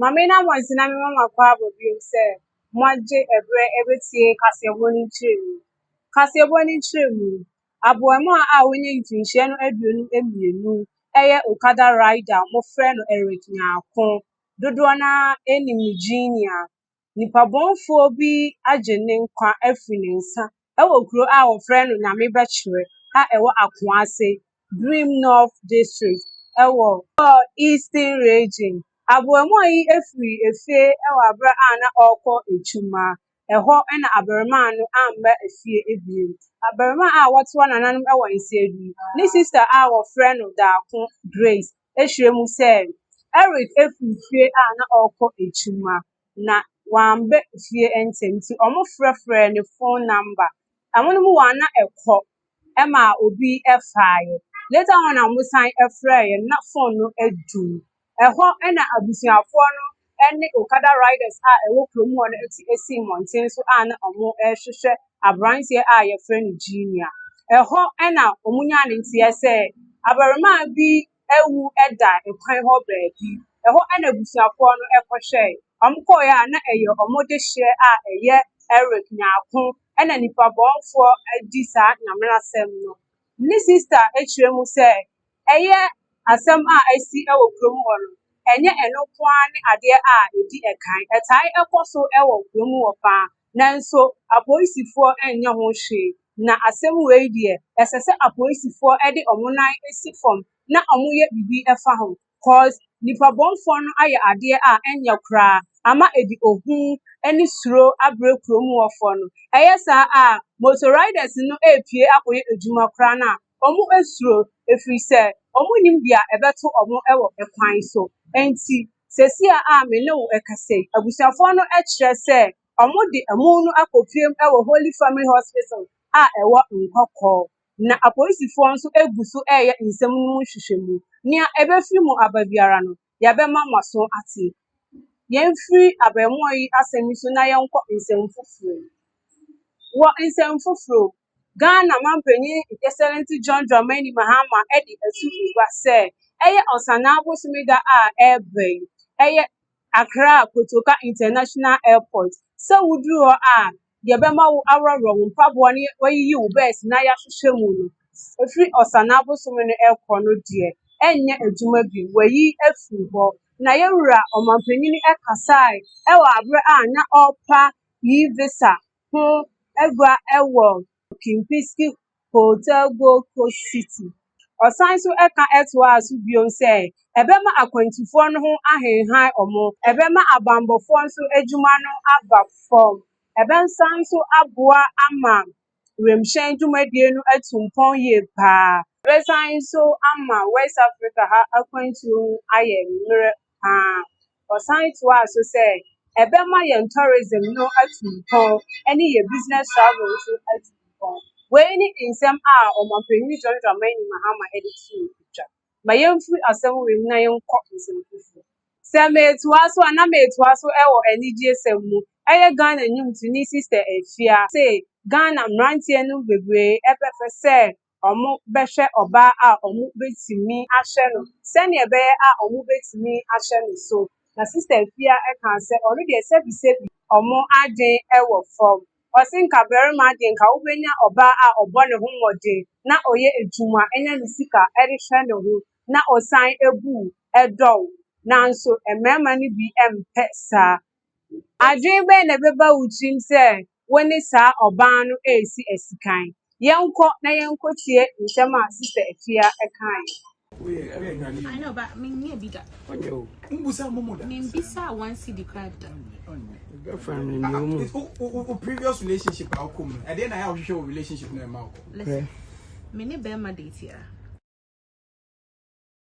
Maame na Mɔnsi na mema makɔ abɔ bio sɛ moagye ɛberɛ ɛbɛtie kaseɛbɔ no nkyerɛmu. Kaseɛbɔ no nkyerɛmu, aboamaa a wanya mfirinhyia no aduonu mmienu ɛyɛ Okada Rider, wɔfrɛ no Eric Nyarko. Dodoɔ no ara nim no Genia. nipabɔnfoɔ bi agye ne nkwa afiri ne nsa wɔ kuro a wɔfrɛ no Nyamebɛkyere a ɛwɔ Akoase, Birim North District wɔ Bor Eastern Region. Abarimaa yi firi efie wɔ aberɛ a na ɔrekɔ adwuma. Ɛhɔ na abarimaa no amma efie bio. Abarimaa a wɔto anananom wɔ Nsiadui, ne sista a wɔfrɛ no Daako Grace ahyia mu sɛ Eric afi fie a na ɔrekɔ adwuma, na wamba fie ntsɛm ntsi wɔfrɛfrɛɛ no phone number. Hɔn mu hɔn a na kɔ ma obi faae. Later on na wɔsan frɛɛ no na phone no edum. Hɔ na abusuafoɔ no ne Okada Riders a ɛwɔ kurom hɔ no ti sii mmɔnten so a na wɔrehwehwɛ aberanteɛ a yɛfrɛ no Junior. Ɛhɔ na wɔnyaa ne nteɛ sɛ abarimaa bi awu da kwan hɔ baabi. Ɛhɔ na abusuafoɔ no kɔhwɛe. Wɔkɔeɛ a na ɛyɛ wɔn dehyeɛ a ɛyɛ Eric Nyarko na nnipa bɔnfoɔ di saa nyamena sɛm no. Ne sista kyerɛ mu sɛ Ɛyɛ asɛm a asi wɔ kurom hɔ no, ɛnyɛ ɛno nko ara ne adeɛ a ɛdi kan. Ɛtae kɔ so wɔ kurom hɔ pa ara, nanso apolisifoɔ nyɛ ho hwee. Na asɛm wei deɛ, ɛsɛ sɛ apolisifoɔ de wɔn nan si fam na wɔyɛ biribi fa ho cos nipabɔnfoɔ no ayɛ adeɛ a ɛnyɛ koraa ama ɛde ohu ne suro abrɛ kurom hɔfoɔ no. Ɛyɛ saa a, motor riders no repue akɔyɛ adwuma koraa no a, Wɔsuro ɛfiri sɛ wɔnnim deɛ ɛbɛto wɔn wɔ ɛkwan so. Enti, seesei a me ne wo rekasa yi, abusuafoɔ no kyerɛ sɛ wɔde amu no akɔpiem wɔ Holy Family Hospital a ɛwɔ Nkɔkɔɔ, na apolisifoɔ nso gu so reyɛ nsɛm no mu nhwehwɛmu. Nea ɛbɛfiri mu aba biara no, yɛbɛma mo aso ate. Yɛmfiri abarimaa yi asɛm yi so na yɛnkɔ nsɛm foforɔ mu. Wɔ nsɛm foforɔ mu, Ghana manpanin Excellency John Dramani Mahama de asu gua sɛ ɛyɛ Ɔsanaa bosome da a ɛreba yi, ɛyɛ Accra Kotoka International Airport sɛ woduru hɔ a, deɛ ɛbɛma wo aworɔworɔ wo mpaboa ne wayiyi wo bɛs na yɛahwehwɛ mu no ɛfiri ɔsane abosome no ɛkɔ no deɛ ɛnyɛ adwuma bi wayi afiri hɔ na yɛwura ɔmampanyini ɛkasae ɛwɔ aberɛ a na ɔrepa yi visa ho agua ɛwɔ Kempinski Hotel Gold Coast City. Ɔsan nso ka toaa so bio sɛ, Ɛbɛma akwantufoɔ no ho ahenhan wɔn, ɛbɛma abammɔfoɔ nso adwuma no aba fam, ɛbɛsan nso aboa ama wimhyɛn dwumadie no atu mpɔn yie paa, ɛbɛsan nso ama West Africa ha akwantuo ho ayɛ mmerɛ. paa. Ɔsan toaa so sɛ, Ɛbɛma yɛn tourism no atu mpɔn ne yɛn business travel nso atu mpɔn. Wei ne nsɛm a Ɔmampanyin John Dramani Mahama de too dwa. Ma yɛmfiri asɛm wei mu na yɛnkɔ nsɛm foforo. Sɛ meretoa so a, na meretoa so wɔ anigyesɛm mu. Ɛyɛ Ghana nnwomtoni Sister Afia se Ghana mmeranteɛ no bebree pɛ sɛ wɔbɛhwɛ ɔbaa a wɔbɛtumi ahyɛ no sɛdeɛ ɛbɛyɛ a wɔbɛtumi ahyɛ no so. Na Sista Afia kaa sɛ ɔno deɛ sɛbisɛbi wɔn adwene wɔ fam. Ɔse nka barima deɛ nka wobɛnya ɔbaa a ɔbɔ ne ho mmɔden na ɔyɛ adwuma nya ne sika de hwɛ ne ho na ɔsan bu wo, ɛdɔ wo. Nanso mmarima no bi mpɛ saa. Adwene bɛn na ɛbɛba wo tirim sɛ wo ne saa ɔbaa no resi asikan? Yɛnkɔ na yɛnkɔtie nsɛm a Sista Afia kaeɛ.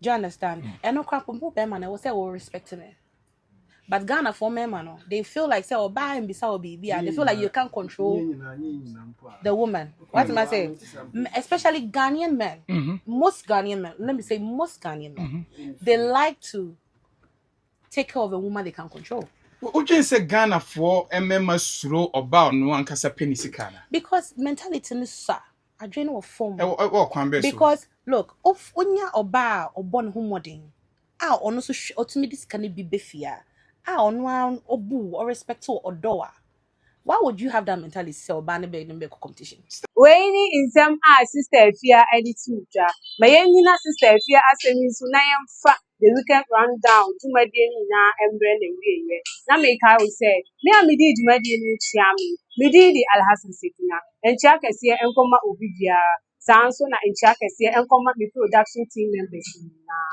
do you understand mm. ɛno kora po mpo bɛrima no ɛwɔ sɛ wɔ respect no but ghana for mmarima no they feel like sɛ ɔbaa mbisa wɔ biribi a they feel like you can't control the woman what am i saying especially ghanaian men mm -hmm. most ghanaian men let me say most ghanaian men mm -hmm. they like to take care of a woman they can control wodwen sɛ ghanafoɔ mmarima suro ɔbaa ɔno ankasa pɛ ne sika no because mentality no sa Adwene wɔ fam. Ɛwɔ ɛwɔ ɔkwan bɛɛ so. Because look, of onya ɔbaa a ɔbɔ ne ho mmɔden a ɔno nso hwɛ ɔtumi de sika no bi bɛ fie a a ɔno ara ɔbu wo, ɔrespect wo, ɔdɔ wo a, why would you have that mentality sɛ ɔbaa no bɛyɛ ne bɛkɔ competition? Wei ne nsɛm a Sister Afia de too dwa. Ma yɛnnyina Sister Afia asɛm yi so na yɛmfa The Weekend Rundown dwumadie no nyinaa mmerɛ na ɛwieɛ. Na mekae wo sɛ, me a medii dwumadie no ho kyia me. Me din de Alhassan Sekina. Nkyea kɛseɛ nkɔma obi biara. Saa ara nso na nkyea kɛseɛ nkɔma me production team members no nyinaa.